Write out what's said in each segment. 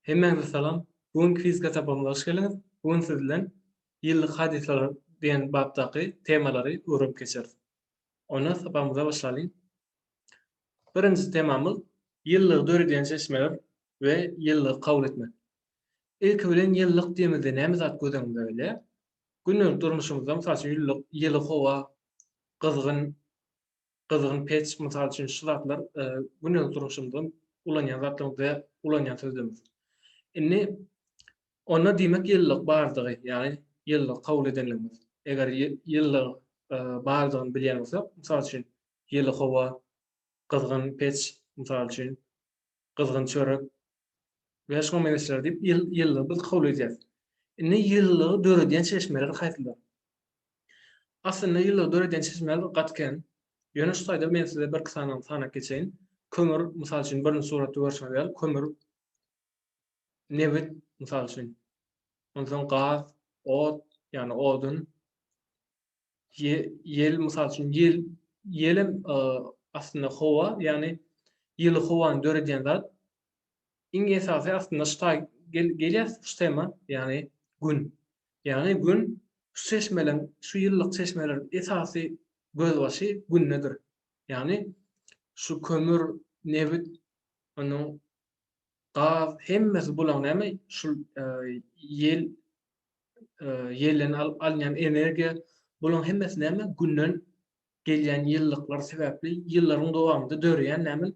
Hemmäňize salam. Bu günki fizika sapagymyza hoş geldiňiz. Bu gün siz bilen Ýyllyk hadysalary diýen bapdaky temalary öwrenip geçeris. Onda sapagymyza başlalyň. Birinji temamyz Ýyllygy döredýän çeşmeler we ýyllygy kabul etmek. Ilki bilen ýyllyk diýemizde näme zat göz öňüňde gelýär? Gündelik durmuşymyzda mysal üçin ýyllyk, ýyly howa, gyzgyn gyzgyn peç, mysal üçin şu zatlar gündelik durmuşymyzda ulanýan zatlarymyz we ulanýan sözlerimiz. Indi onda diýmek ýylylyk bardygy, ýagny ýylylygy kabul edenligimiz. Eger ýylylygyň bardygyny bilýän bolsak, mysal üçin, ýyly howa, gyzgyn peç, mysal üçin, gyzgyn çörek, Bäş müň megeçler diýip ýyl ýyllygy biz kabul edýäs. Indi ýyllygy döredýän çeşmeler haýsylar? Aslynda ýyllygy döredýän çeşmeler gaty kän. Ýöne şu taýda men size birki sanadan sanap geçeýin. Kömür, mysal üçin birinji suratda görşüňiz ýaly kömür, nebit, mysal üçin. Onsoň gaz, ot, ýagny odun. Ýel, mysal üçin, ýel, ýel hem aslynda howa, ýagny ýyly howany döredýän zat. Iň esasy aslynda şu taý gelýär şu tema, ýagny Gün. Ýagny Gün şu çeşmeleň, şu ýyllyk çeşmeleriň esasy gözbaşy Gündedir. Ýagny şu kömür, nebit, onuň gaz hemmesi bulaň näme şul ýel, ýelden alynýan energiýa, bularyň hemmesi näme, Günden gelýän ýyllyklar sebäpli ýyllaryň dowamynda döreýän näme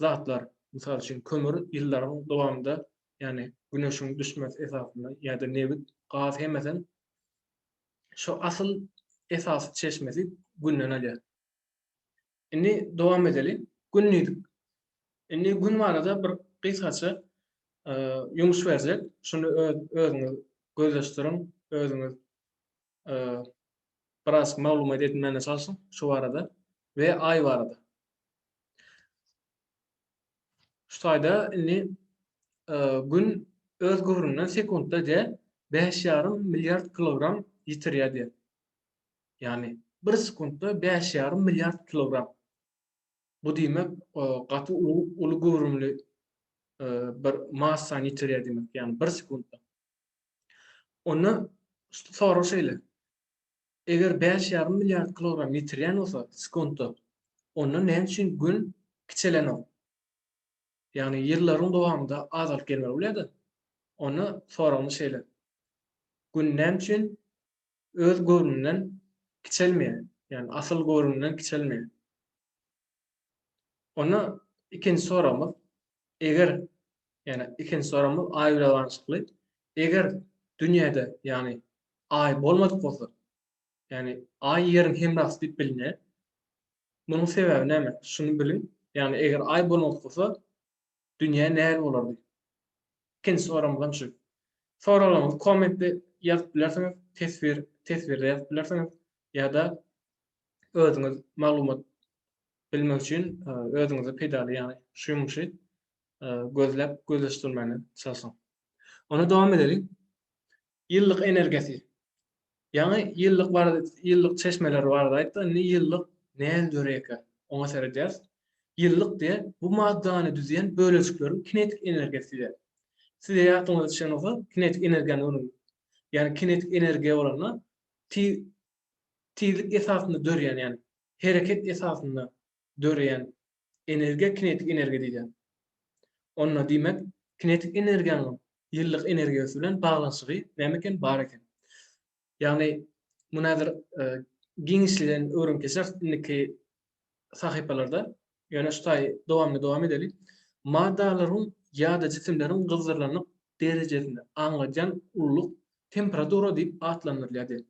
zatlar. Mysal üçin, kömür ýyllaryň dowamynda, ýagny Güneşiň düşmesi esasynda ýa-da nebit, gaz hemmesem şu asyl esasy çeşmesi Günden alýar. Indi dowam edeli. Gün diýdik. Indi gün barada bir gysgaça ýumuş berjek. Şuny özüňiz gözleşdiriň, özüňiz biraz maglumat edinmäne çalşyň şu barada we Aý barada. Şu taýda indi gün öz gübürinden sekuntda diýe bäş ýarym milliard kilogram ýitirýär diýe. ýagny bir sekuntda bäş ýarym milliard kilogram. Bu diýmek, gaty uly göwrümli bir massany ýitirýär diýmek, ýagny bir sekuntda. Onda sorag şeýle, eger bäş ýarym milliard kilogram ýitirýän bolsa sekuntda, onda näme üçin Gün kiçelenok? Ýagny ýyllaryň dowamynda azalyp gelmeli bolýar-da. Onda soragymyz şeýle, Gün näme üçin Öz göwnünden kiçelmeýär, ýagny asyl göwnünden kiçelmeýär. Onda ikinji soragymyz, eger, ýagny ikinji soragymyz Aý bilen baglanyşykly, eger dünýäde, ýagny Aý bolmadyk bolsa, ýagny Aý Ýeriň hemrasy diýip bilinýär. Munuň sebäbi näme? Şuny biliň, ýagny eger Aý bolmadyk bolsa, Dünýä näl bolardy? Ikinji soragymyz hem şu. Soraglaryňyzy kommentde ýazyp bilersiňiz, teswir, teswirde ýazyp bilersiňiz ýa-da özüňiz maglumat bilmek üçin özüňize peýdaly ýagny şu ýumuşy gözläp gözleşdirmäne çalşyň. Onda dowam edeliň. Ýyllyk energiýasy. Ýaňy ýyllyk barada ýyllyk çeşmeleri barada aýtdyk, indi ýyllyk nädip döreýärkä, oňa seredýäris. Ýyllyk diýen bu maddany düzýän bölejikleriň kinetik energiýasy diýýär. Size ýadyňyza düşen bolsa, kinetik energiýany görüň. Ýagny kinetik energiýa bolanda tiz tizlik esasynda dörýän, ýagny hereket esasynda döreýän energiýa kinetik energiýa diýilýär. Onda diýmek, kinetik energiýanyň ýylylyk energiýasy bilen baglanyşygy näme eken? Bar eken. Ýagny, muny häzir giňişleýin öwrenip geçeris indiki sahypalarda. Ýöne şu taýy dowamly dowam edeli. Maddalaryň ýa-da jisimleriň gyzdyrylanlyk derejesini aňladýan ululyk temperatura diýip atlandyrylýar diýen.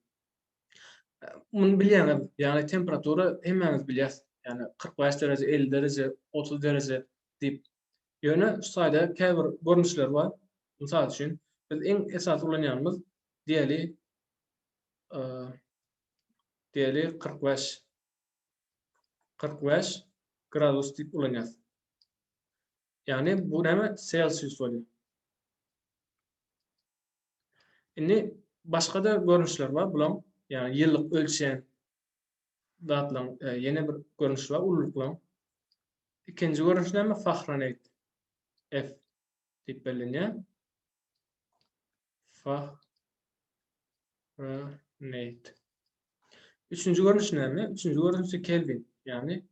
Muny bilýäňiz, ýagny temperatura hemmämiz bilýäs, ýagny kyrk bäş dereje, elli dereje, otuz dereje diýip. Ýöne şu taýda käbir görnüşleri bar. Mysal üçin, biz iň esasy ulanýanymyz diýeli, diýeli kyrk bäş, kyrk bäş gradus diýip ulanýas. Ýagny bu näme? Selsius bolýar. Indi başga-da görnüşler bar bulaň, ýagny ýyllyk ölçän zatlaryň ýene bir görnüşi bar ululyklaryň. Ikinji görnüşi näme? Fahrenheit. F diýip bellenýär. Fah Fahrenheit. Üçünji görnüşi näme? Üçünji görnüşi Kelvin, ýagny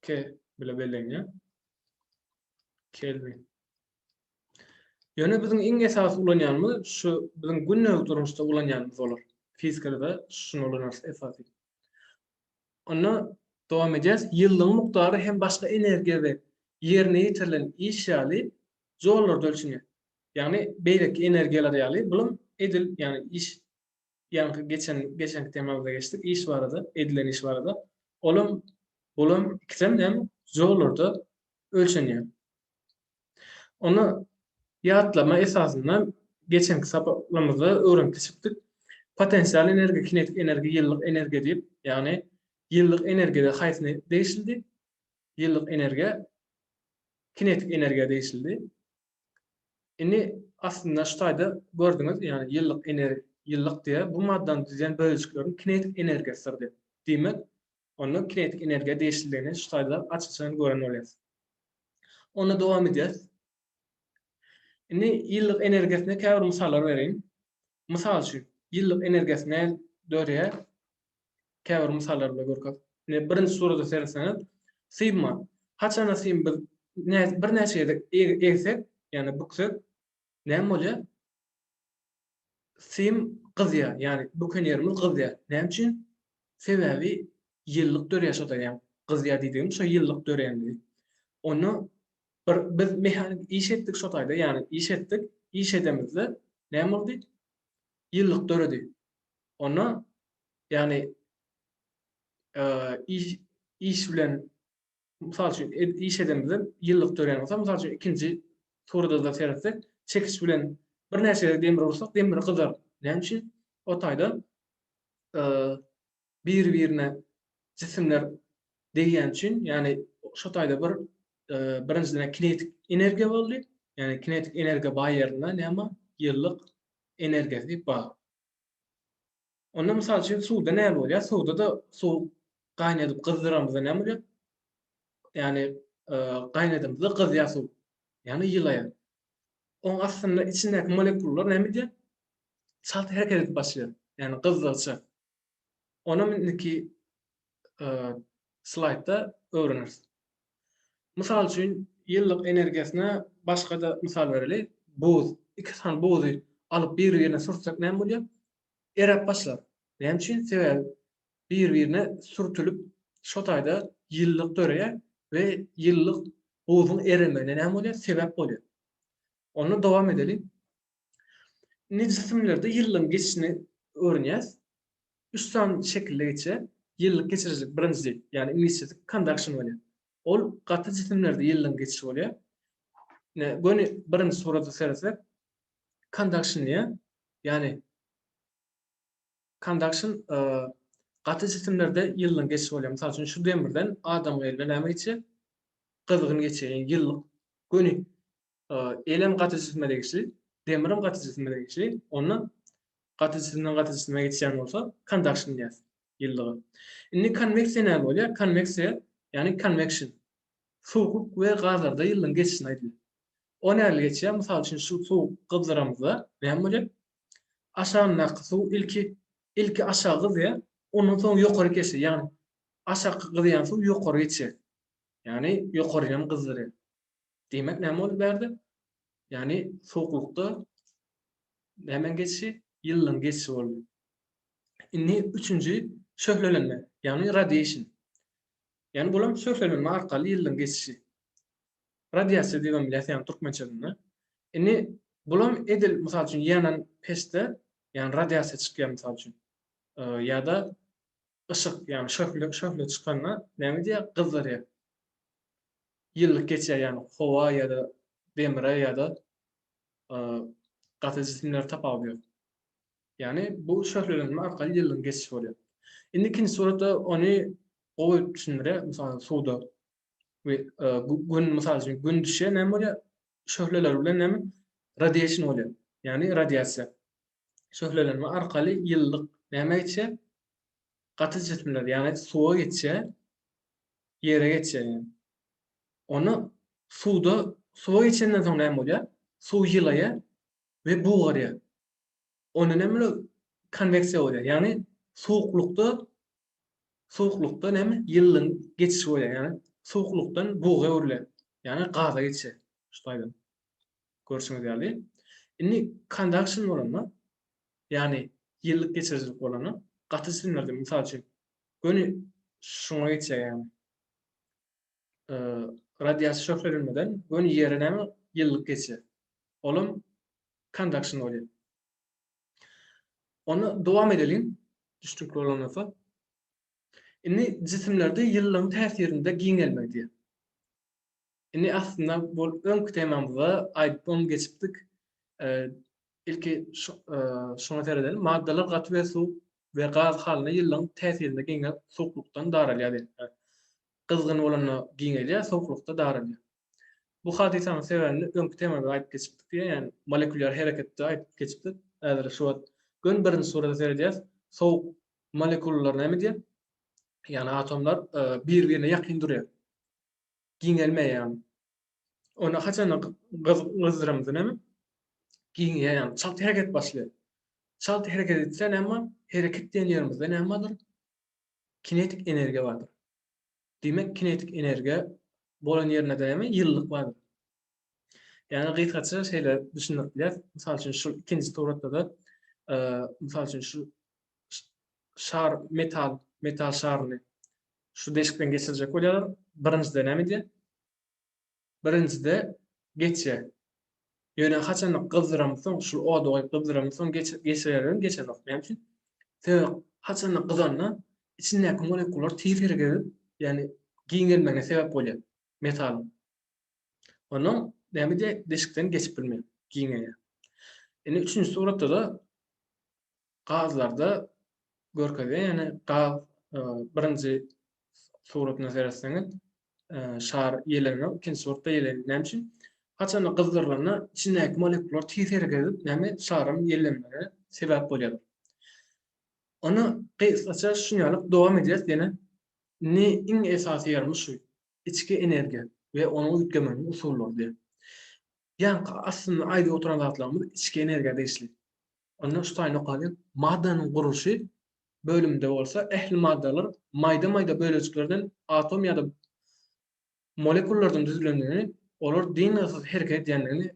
K bile bellenýär. Kelvin. Ýöne biziň iň esasy ulanýanymyz şu biziň gündelik durmuşda ulanýanymyz bolar. Fizikada şuny ulanarys esasy. Onda dowam edýäs. Ýylyň mukdary hem başga energiýa we ýerine ýetirilen iş ýaly joullarda ölçenýär. Ýagny beýleki energiýalar ýaly bulam edil, ýagny iş ýaňky geçen geçenki temamyzda geçdik iş barada, edilen iş barada. Olam bulam ikisem näme? Joullarda ölçenýär. Onda ýatlama esasynda geçenki sapaklarymyzda öwrenip geçipdik. Potensial energiýa, kinetik energiýa, ýyllyk energiýa diýip, ýagny ýyllyk energiýa haýsyna degişlidi? Ýyllyk energiýa kinetik energiýa degişlidi. Indi aslynda şu taýda gördüňiz, ýagny ýyllyk ener ýyllyk diýýär, bu maddany düzýän bölejiklerin kinetik energiýasydyr diýip. Diýmek, onda kinetik energiýa degişliligini şu taýda aç-açan gören bolýarys. Onda dowam edýäris. Indi ýylylyk energiýasyna käbir mysallar bereýin. Mysal üçin, ýylylyk energiýasy nädip döreýär? Käbir mysallar bilen görkezip. Indi birinji surata seretseňiz, sygma. Haçanda sygmy biz birnäçe gezek egsek, ýagny büksek, Näme bolýar? Sim gyzýar, ýagny bukenýerimiz gyzýar. Näme üçin? Sebäbi ýyllyk dörýär şo ýa gyzýar diýdigim şo ýyllyk döränligi. Onda bir biz mehanik iş etdik şo taýda, ýagny iş etdik, iş edemizde näme boldy? Ýyllyk döredi. Onda ýagny iş bilen Mysal üçin, iş edeniňizde ýylylyk dörän bolsa, mysal üçin, ikinji surada-da seretsek, çekiç bilen birnäçe gezek demir ursak, demir gyzar. Näme üçin? O taýda biri-birine jisimler degýäni üçin, ýagny şo taýda bir birinjiden kinetik energiýa boldy. Ýagny kinetik energiýa baý ýerinde näme bar? Ýylylyk energiýasy bar. Onda mysal üçin suwda näme bolýar? Suwda-da suw gaýnadyp gyzdyramyzda näme bolýar? Ýagny gaýnadamyzda gyzýar suw. Ýagny ýylaýar. Oň astynda içindäki molekullar näme edýär? Çalt hereket edip başlaýar. Ýagny gyzdyryjy. Onam indiki slaýdda öwreneris. Mysal üçin, ýyllyk energiýasyna başga-da mysal bereli, buz. Iki sany buzy alyp bir-birine sürtsek näme bolýar? Eräp başlar. Näme üçin? Sebäbi bir-birine sürtülip, şo taýda ýyllyk döreýär we ýyllyk buzuň eremegine näme bolýar? Sebäp bolýar. Onda dowam edeliň. Indi jisimlerde ýyllaryň geçişini öwrenýäs. Üç sany şekilde geçýär. Ýyllyk geçirijilik birinjisi, ýagny iňlisçesi conduction bolýar. Ol gaty jisimlerde ýyllaryň geçişi bolýar. Ine, göni birinji surata seresek, conduction diýýär. Ýagny conduction gaty jisimlerde ýyllaryň geçişi bolýar. Mysal üçin, şu demirden adam gylyna näme geçýär? Gyzgyn geçýär, ýyllyk göni Elem gaty jisme degişli, demirem gaty jisme degişli, onda gaty jisimden gaty jisime geçýän bolsa kondaksiýon diýýäs ýylylyga. Indi konweksiýa näme bolýar? Konweksiýa, ýagny konweksion. Sowuk we gazlarda ýylylygyň geçişine aýdylýar. O nähili geçýär? Mysal üçin şu suwy gyzdyramyzda näme bolýar? Aşagyndaky suw ilki ilki aşagy gyzýar, ondan soň ýokary geçýär. Ýagny aşaky gyzýan suw ýokary geçýär. Ýagny ýokaryny hem gyzdyrýar. Diýmek näme boldy bärde? Ýagny sowuklykda nämäň geçişi? Ýylylygyň geçişi boldy. Indi üçünji şöhlelenme, ýagny radiation. Ýagny bul hem şöhlelenme arkaly ýylylygyň geçişi. Radiasiýa diýip hem bilýäs, ýagny türkmençesinde. Indi bul hem edil mysal üçin ýanan peçde, ýagny radiasiýa çykýar mysal üçin. Ýa-da Yşyk, ýagny şöhle, şöhle çykanda näme diýýär, gyzzarýar. Ýyllyk geçýär, ýagny howa ýa-da demre ýa-da gaty jisimler tapawudy ýok. Ýagny bu şöhlelenme arkaly ýyllygyň geçişi bolýar. Indi ikinji suratda ony gowy düşündirýär, mysal suwda we gün, mysal üçin gün düşýär, näme bolýar? Şöhleler bilen näme? Radiation bolýar, ýagny radiasiýa. şöhlelenme arkaly ýylylyk nämä geçýär? Gaty jisimler, ýagny suwa geçýär, ýere geçýär. Onda suwda, suwa geçenden soň näme bolýar? Suw ýylaýar we bugarýar. Onda näme bolýar? Konweksiýa bolýar, ýagny suwuklykda, suwuklykda näme? Ýylylygyň geçişi bolýar, ýagny suwuklykdan buga öwrülýär, ýagny gaza geçýär şu taýdan. Görşüňiz ýaly, indi conduction bolanda, ýagny ýylylyk geçirijilik bolanda gaty jisimlerde, mysal üçin, göni şuňa geçýär ýagny. Radiasiýa şöhlelenmeden göni ýere näme ýylylyk geçýär. Olam conduction bolýar. Onda dowam edeliň, düşnükli bolan bolsa. Indi jisimlerde ýylylygyň täsirinde giňelme diýýär. Indi aslynda bul öňki temamyzda aýdyp oň geçipdik. Ilki şuňa seredeli. Maddalar gaty we suwuk we gaz halynda ýyllaň täsirinde giňäp suwuklykdan daralýar diýilipdir. Gyzgyn bolanda giňelýär, sowuklykda daralýar. Bu hadysanyň sebäbini öňki temada aýdyp geçipdik diýýär, ýagny molekulýar hereketde aýdyp geçipdik. Häzir şu wagt göni birinji surata seredýäris. Sowuk molekulalar näme edýär? Ýagny atomlar bir-birine ýakyn durýar. giňelmeýärin. Onda haçanda gyzdyrymdynym giňeýär, çalt hereket başlaýar. Çalt hereket etse näme bolar? Hereket diýen ýerimizde näme bardyr? Kinetik energiýa bardyr. Diýmek, kinetik energiýa bolan ýerinde näme? Ýylylyk bardyr. Ýagny gysgaça şeýle düşündirip bilýäris. Mysal üçin şu ikinji suratda-da, mysal üçin şu şar metal, metal şaryny şu deşikden geçirjek bolýarlar. Birinjide näme edýär? Birinjide geçýär. Ýöne haçanda gyzdyramyň soň, şu ody goýup gyzdyramyň soň geçirerem geçenok. Näme üçin? Sebäbi haçanda gyzanda içindäki molekular tiz hereket edip, ýagny giňelmegine sebäp bolýar metalyň. Onuň näme diýýä deşikden geçip bilmeýär, giňeýär. Indi üçünji suratda-da gazlarda görkezýär, ýagny gaz birinji suratynda seretseňiz şar ýeleňňir, ikinji suratda ýeleňňir. Näme üçin? Haçanda gyzdyrylanda içindäki molekular tiz hereket edip, näme şaryň ýellenmegine sebäp bolýar. Ony gysgaça şuny ýaly dowam edýäs ýene. Indi iň esasy ýerimiz şu. Içki energiýa we ony üýtgemeginiň usullary diýip. Ýaňky aslynda aýdyp oturan zatlarymyz içki energiýa degişli. Onda şu taýdan okalyň, Maddanyň gurluşy bölüminde bolsa ähli maddalar maýda-maýda bölejiklerden, atom ýa-da molekullardan düzülendigini, olar dyngysyz hereket edýändigini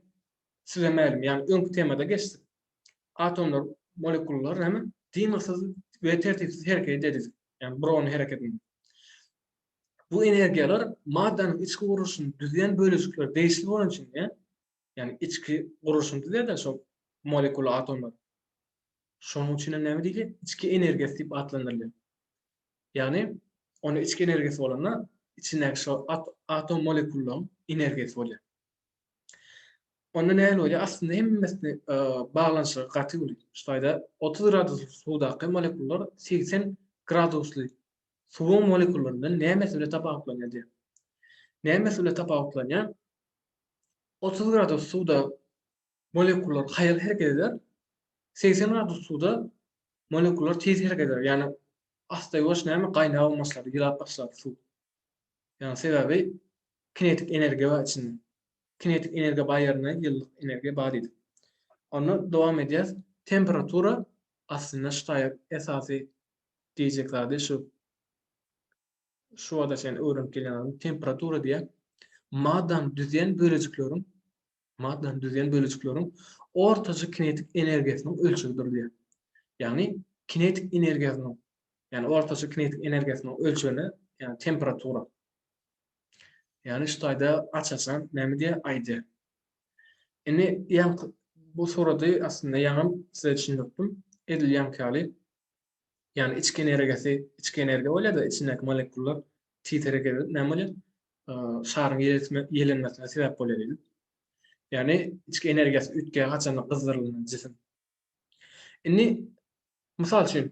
size mälim, ýagny öňki temada geçdik. Atomlar, molekullar näme? Dyngysyz we tertipsiz hereket edýär diýdik. Ýagny brownyň hereketini. Bu energiýalar maddanyň içki gurluşyny düzýän bölejikleri degişli bolan üçin, ýagny içki gurluşyny düzýär-de şol molekula atomlar. Şonuň üçin hem näme diýilýär? Içki energiýasy diýip atlandyrylýar. Ýagny onda içki energiýasy bolanda içindäki şo atom molekullaryň energiýasy bolýar. Onda nähili bolýar? Aslynda hemmesini e, baglanyşygy gaty uly. Şu taýda 30 gradusly suwdaky molekular 80 gradusly suwuň molekularyndan nämesi bilen tapawutlanýar diýýär. Nämesi bilen tapawutlanýar? 30 gradus suwda molekular haýal hereket eder, 80 gradus suwda molekular tiz hereket eder. Ýagny asta ýuwaş näme gaýnap başlar, ýylap başlar suw. Ýagny sebäbi kinetik energiýa bar içinde. Kinetik energiýa bar ýerinde ýylylyk energiýa bar diýdik. Onda dowam edýäs. Temperatura aslynda ştaýer esasy diýjek zady şu, şu wagta çenli öwrenip gelýän zady temperatura diýýär. Maddany düzýän bölejikleriň, maddany düzýän bölejikleriň ortaça kinetik energiýasynyň ölçegidir diýýär. Ýagny kinetik energiýasynyň, ýagny ortaça kinetik energiýasynyň ölçegine, ýagny temperatura. Ýagny şu taýda aç-açan näme diýýär? Aýdýar. Indi ýaňky bu surady aslynda ýaňam size düşündiripdim. Edil ýaňky ýaly Ýagny içki energiýasy, içki energiýa bolýar-da, içindäki molekullar tiz hereket edip näme bolýar? Şaryň ýelenmesine sebäp bolýar diýdik. Ýagny içki energiýasy üýtgeýär haçanda gyzdyrylan jisim. Indi mysal üçin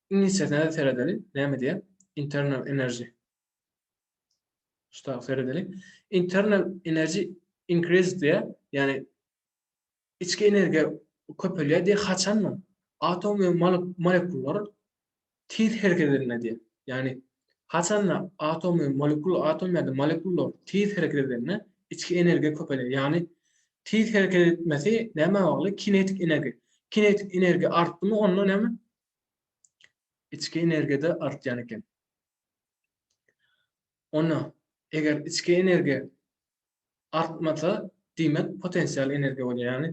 iňlisçesine seredeli, näme diýýär? Internal energy. Şuda seredeli. Internal energy increase diýýär. Ýagny Içki energiýa köpelýär diýýär, haçanda atom we molekullar tiz hereket edende diýýär. Ýagny haçanda atom we molekul, atom ýa-da molekullar tiz hereket edende içki energiýa köpelýär. Ýagny tiz hereket etmesi nämä bagly? Kinetik energiýa. Kinetik energiýa artdymy onda näme? Içki energiýa-da artýan eken. Onda eger içki energiýa artmasa diýmek potensial energiýa bolýar ýagny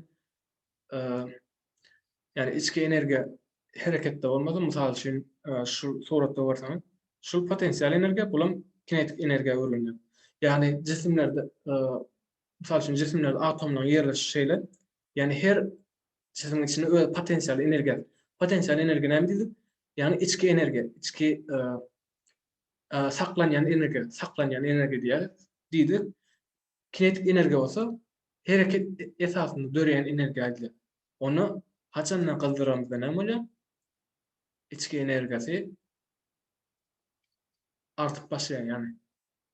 ýagny içki energiýa hereketde bolmasa mysal üçin şu suratda görseňiz şu potensial energiýa bulam kinetik energiýa öwrülýär ýagny jisimlerde mysal üçin jisimlerde atomlaryň ýerleşişi şeýle ýagny her jisimiň içinde öz potensial energiýasy potensial energiýa näme diýdik ýagny içki energiýa içki saklanýan energiýa, saklanýan energiýa diýýäris, diýdik. Kinetik energiýa bolsa hereket esasynda döreýän energiýa aýdylýar. Ony haçanda gyzdyramyzda näme bolýar? Içki energiýasy artyp başlaýar, ýagny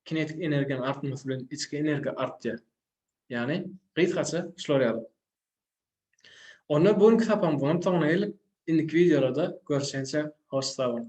kinetik energiýanyň artmasy bilen içki energiýa artýar. Ýagny gysgaça şular ýaly. Onda bu günki sapamyzyň soňuna geldik. Indiki wideolarda görüşençe hoş sag boluň.